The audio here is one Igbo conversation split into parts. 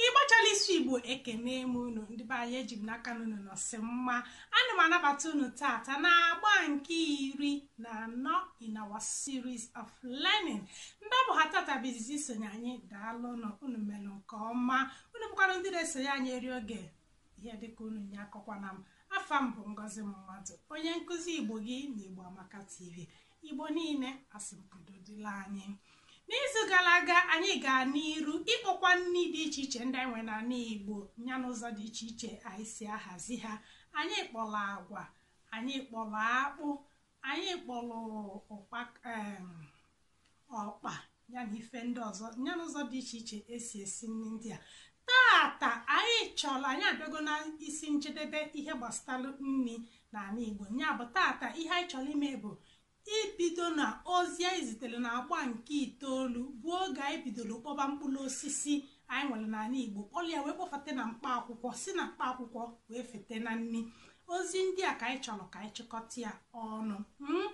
ịgbachala isi igbo ekene m unu ndị be anyị eji m n'aka n'unu nọsị mma ana m anabata unu tata na agba nke iri na anọ in our series of learning ndị ọ bụ ha tata bụ izizi isonye anyị daalụ nụ unu mere nke ọma unu bụkwanụ ndị na-esonye anyị eri oge ihe dịka unu nya akọkwana m afa m bụ ngozi mmadụ onye nkụzi igbo gị na igbo amaka tv igbo niile asị m udo dịlị anyị n'izu gara aga anyị gaa n'iru ịkpọkwa nri dị iche iche ndị anyị nwere n'ala igbo ya n'ụzọ dị iche iche anyị si ahazi ha anyị kpọrọ agwa anyị kpọrọ akpụ anyị kpọrọ ọkpa ya na ife ndị ọzọ ya na ụzọ dị iche iche esi esi nri ndị a tata anyị chọrọ anyị abịago na isi njedebe ihe gbasara nri n'ala Igbo ya bụ tata ihe anyị chọrọ ime bụ ibido na ozi anyị zitere na agba nke itoolu bụ oge anyị bidoro kpọba mkpụrụ osisi anyị nwere n'ala igbo kpọrọ ya wee kpọfete na mkpa akwụkwọ si na mkpa akwụkwọ wee fete na nri ozi ndị a ka anyị chọrọ ka anyị chịkọta ya ọnụ hmm?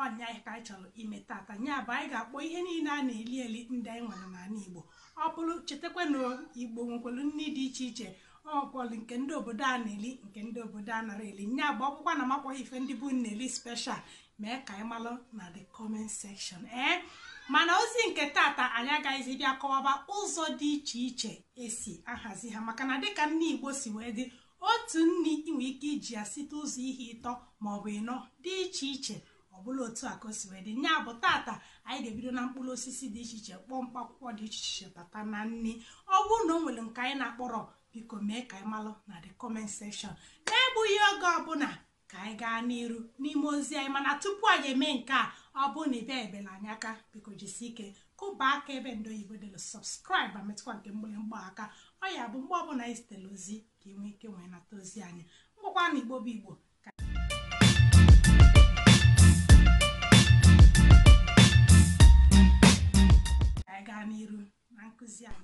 ọ nya ka anyị chọrọ ime tata nya bụ anyị ga-akpọ ihe niile a na-eli eli ndị anyị nwere n'ala igbo ọ bụrụ chetakwa na igbo nwekwara nri dị iche iche o nwelụ nke ndị obodo a na-eli nke ndị obodo a anarọ eli nya bụ ọ bụkwa na m akpọrọ ife ndị be unu na-eli special mee ka anyị malụ na the comment section ee eh? mana ozi nke tata anyị agaghịzi bịa kọwaba ụzọ dị iche iche esi ahazi ha maka na dịka nri igbo si wee dị otu nri i nwee ike iji ya site ụzọ ihe ịtọ maọbụ ịnọ dị iche iche ọbụla otu a ka o si wee dị nya bụ tata anyị ga-ebido na mkpụrụ osisi dị iche iche kpọọ mkpa akwụkwọ dị iche iche bata na nri ọ bụrụ na o nwere nke anyị na-akpọrọ biko mee ka anyị malụ na the comment section na-egbughị oge ọbụla ka anyị gaa n'iru n'ime ozi anyị mana tupu anyị eme nke a ọ bụrụ na i binyebelu anyị aka biko jisi ike kụba aka ebe ndị oyibo delụ subscribe ma metụkwa nke mgbịrịmgba aka ọ ya bụ mgbe ọbụla anyị zitere ozi ka ị nwee ike wee nata ozi anyị ngwa kwanụ igbo bụ igbo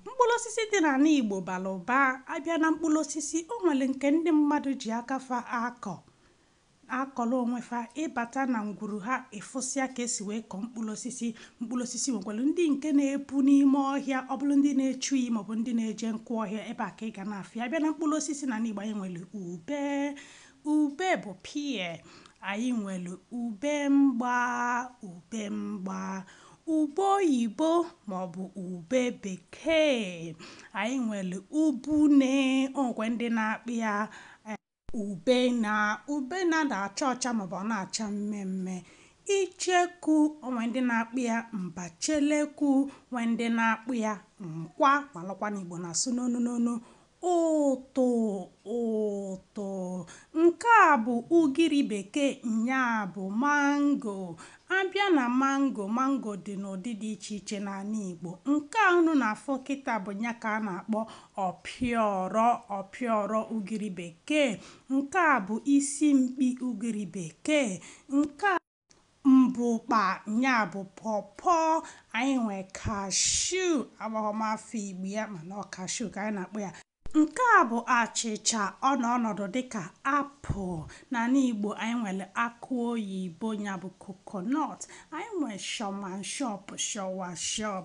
mkpụrụ osisi dị n'ala Igbo bara ụba abịa na mkpụrụ osisi o nwere nke ndị mmadụ ji aka fa akọ akọrọ onwe fa ịbata na ngwuru ha ịfụsịa ka esi wee kọọ mkpụrụ osisi mkpụrụ osisi nwekwara ndị nke na-epu n'ime ọhịa ọ bụrụ ndị na-echu iyi maọbụ ndị na-eje nkụ ọhịa ebe a ka ị ga na-afụ ya abịa na mkpụrụ osisi n'anị Igbo anyị nwere ube ube bụ pear anyị nwere ube mgba ube mgba Ube oyibo maọbụ ube bekee. Anyị nwere ubune, o nwekwe ndị na-akpọ ya eh, ube na ube na-ada acha ọcha maọbụ ọ na-acha mmee mmee. Icheku, o nwee ndị na-akpọ ya mbacheleku, nwee ndị na-akpọ ya nkwa, malụkwa na Igbo na-asụ n'onu n'onu. Ụtụ, ụtụ. Nke a bụ ugiri bekee nya bụ mango. A bịa na mango, mango dị n'ụdị dị iche iche n'anị Igbo. Nke a unu na-afụ kịta bụ nya ka a na-akpọ ọpịọrọ, ọpịọrọ ugiri bekee. Nke a bụ isi mkpi ugiri bekee. Nke a. Mbukpa, nya bụ pọpọọ, anyị nwe kashuu, amaghọ m afa Igbo ya mana ọ kashuu ka anyị na-akpọ ya. Nke a bụ achịcha, ọ nọ ọnọdụ dịka apụl. N'anị Igbo, anyị nwere akụ oyibo, nya bụ kokonọt. Anyị nwe shọmanshọp, shọwashọp.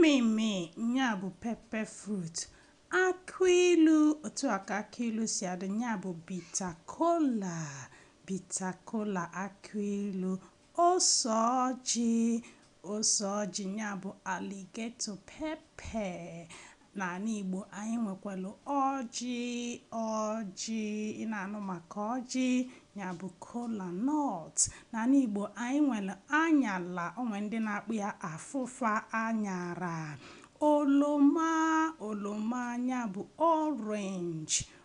mmịmị nya bụ pepe frut akụ ilu otu a ka akụ ilu si adị nya bụ bita kola bita kola akụ ilu ose ọjị ose ọjị nya bụ aligeto pepe N'anị Igbo, anyị nwekwara ọjị, ọjị, ị na-anụ maka ọjị, nya bụ kola nut. N'anị Igbo, anyị nwere anyala, o nwere ndị na-akpọ ya afụfa anyara. Oloma, oloma, nya bụ orange.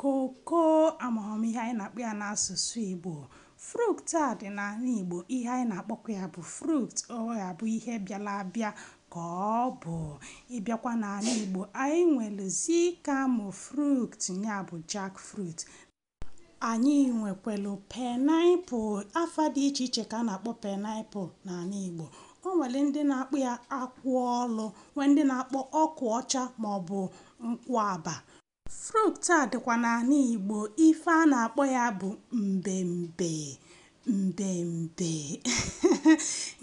Koko, amahọ m ihe anyị na-akpọ ya n'asụsụ Igbo. Fruit a dị n'anị Igbo, ihe anyị na-akpọkwa ya bụ fruit. Ọ ga-abụ ihe bịara abịa ka ọ bụ. Ị bịakwa n'anị Igbo, anyị nwere zikamo fruit, nya bụ jackfruit. Anyị nwekwelu pineapple. Afa dị iche iche ka a na-akpọ pineapple n'anị Igbo. O nwere ndị na-akpọ ya akwụ olu, nwee ndị na-akpọ akwụ ọcha maọbụ nkwụ aba. Fruit a dịkwa n'anị Igbo, ife a na-akpọ ya bụ mbembe mbembe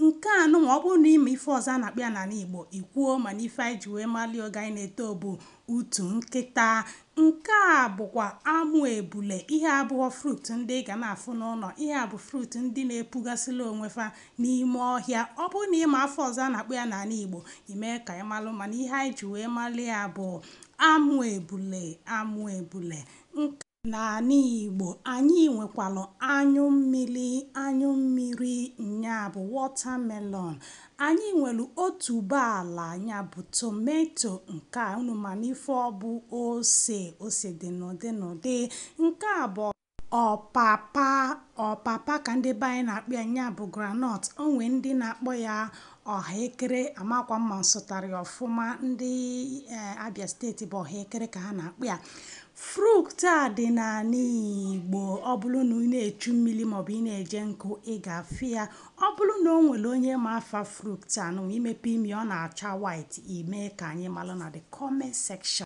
nke a nụnwa ọ bụrụ na ị ma ife ọzọ a na-akpọ ya n'anị Igbo i kwuo mana ife anyị ji wee mali oge anyị na-eto bụ utu nkịta nke a bụkwa amụ ebule ihe a abụhọ fruit ndị ị ga na-afụ n'ụnọ ihe a bụ fruit ndị na-epugasịla onwe fa n'ime ọhịa ọ bụrụ na ị ma afa ọzọ a na-akpọ ya n'anị Igbo i mee ka ị malụ mana ihe anyị ji wee mali ya bụ Amụ ebule, amụ ebule. Nk. N'anị Igbo, anyị nwekwara anyụ mmiri, anyụ mmiri, nya bụ watermelon. Anyị nwere otuboala, nya bụ tomato. Nke a, unu manụ ife ọ bụ, ose. Ose dị n'ụdị n'ụdị. Nke a bụ. Ọpapa, ọpapa ka ndị be anyị na-akpọ ya, nya bụ groundnut. O nwee ndị na-akpọ ya ọhaekere, amakwa m ma m sụtara ya ọfụma. Ndị eh, Abia steeti bụ ọhaekere ka ha na-akpọ ya. Fruit a dị n'anị Igbo ọ bụrụ na ị na-echu mmili maọbụ ị na-eje nkụ ị ga-afụ ya. Ọ bụrụ na o nwere onye ma afa fruit a nụnwa i mepe ime ya ọ na-acha white, i mee ka anyị malụ na the comment section.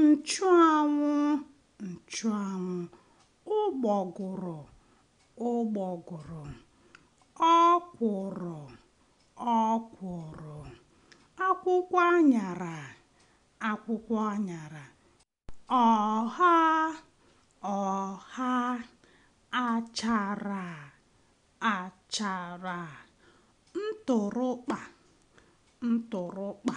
nchụanwụ nchụanwụ ụgbọgụrụ ụgbọgụrụ ọkwụrụ ọkwụrụ akwụkwọ anyara akwụkwọ anyara ọha ọha achara achara ntụrụkpa ntụrụkpa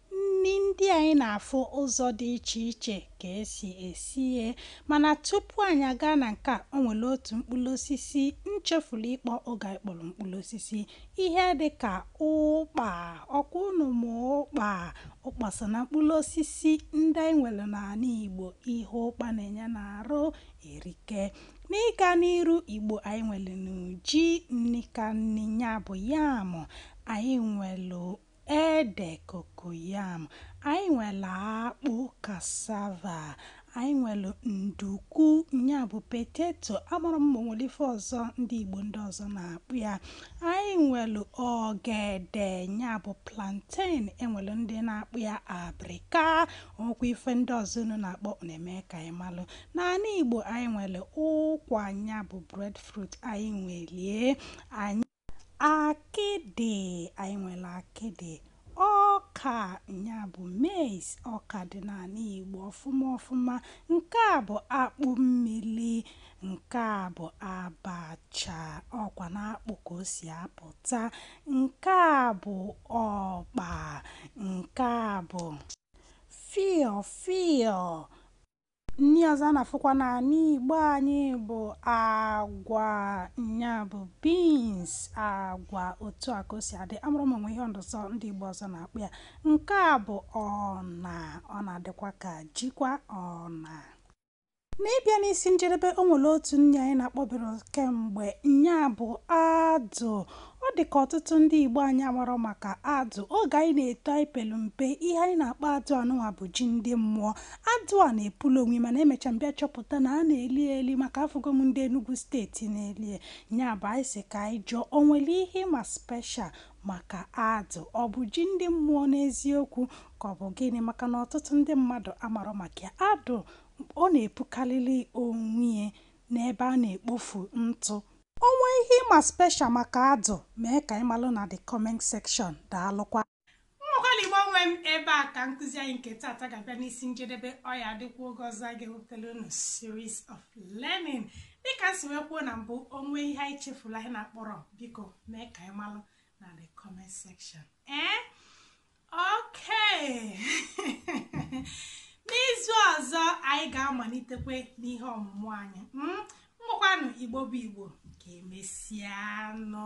Nni ndị anyị na-afụ ụzọ dị iche iche ka e si esi ya. Mana tupu anyị agaa na nke a, o nwere otu mkpụrụ osisi m chefuru ịkpọ oge anyị kpọrọ mkpụrụ osisi. Ihe dị ka ụkpa. Ọkwa unu ma ụkpa? Ụkpa so na mkpụrụ osisi ndị anyị nwere n'anị Igbo. Ihe ụkpa na-enye n'arụ erike. N'ịga n'iru, Igbo anyị nwerenụ ji, nni ka nni, nya bụ yam. Anyị nwere ede, cocoyam, anyị nwere akpụ, cassava, anyị nwere nduku, nya bụ potato, amarọ m ma o nwere ife ọzọ ndị Igbo ndị ọzọ na-akpọ ya, anyị nwere ogede, nya bụ plantain, e nwere ndị na-akpọ ya abrịka, o nwekwa ife ndị ọzọ unu na-akpọ unu eme ka anyị malụ. N'anị Igbo anyị nwere ụkwa, nya bụ breadfruit, anyị nwelie anyị Akịdị, anyị nwere akịdị. Ọka, nya bụ maize, ọka dị n'anị Igbo ọfụma ọfụma. Nke a bụ akpụ mmili, nke a bụ abacha, ọkwa n'akpụ ka o si apụta. Nke a bụ ọkpa, nke a bụ fịọ fịọ. nni ọzọ a na-afụkwa n'anị Igbo anyị bụ agwa nya bụ beans agwa otu a ka o si adị amarọ m ma o nwe ihe ọzọ ndị Igbo ọzọ na-akpọ ya nke a bụ ọna ọ na-adịkwa ka jikwa ọna n'ịbịa n'isi njedebe o nwere otu nni anyị na-akpọbere kemgbe nya bụ adụ Ọ dị ka ọtụtụ ndị Igbo anyị amarọ maka adụ. Oge anyị na-eto anyị pelu mpe, ihe anyị na-akpọ adụ anụnwa bụ ji ndị mmụọ. Adụ a na-epulu onwe ya mana emecha m bịa chọpụta na a na-eli ya eli maka afụgo m ndị Enugwu steeti na-eli ya. Nya bụ anyị sị ka anyị jụọ o nwelu ihe ị ma special maka adụ? Ọ bụ ji ndị mmụọ n'eziokwu ka ọ bụ gịnị maka na ọtụtụ ndị mmadụ amarọ maka ya. Adụ ọ na-epukalịlị onwe ya n'ebe a na-ekpofu ntụ? O nwee ihe ị ma special maka adụ mee ka anyị malụ na the comment section daalụkwa. Ngwakwanụ Igbo nwe m ebe a ka nkụzi anyị nke taata ga-abịa n'isi njedebe ọ ya-adịkwa oge ọzọ a ga-ewepụtara unu series of learning dịka m si wee kwuo na mbụ o nwee ihe anyị chefulu anyị na-akpọrọ biko mee ka anyị malụ na the comment section ee eh? okay n'izu ọzọ anyị ga-amalitekwe n'ihe ọmụmụ anyị ngwakwanụ hmm? igbo bụ igbo ka emesịanụ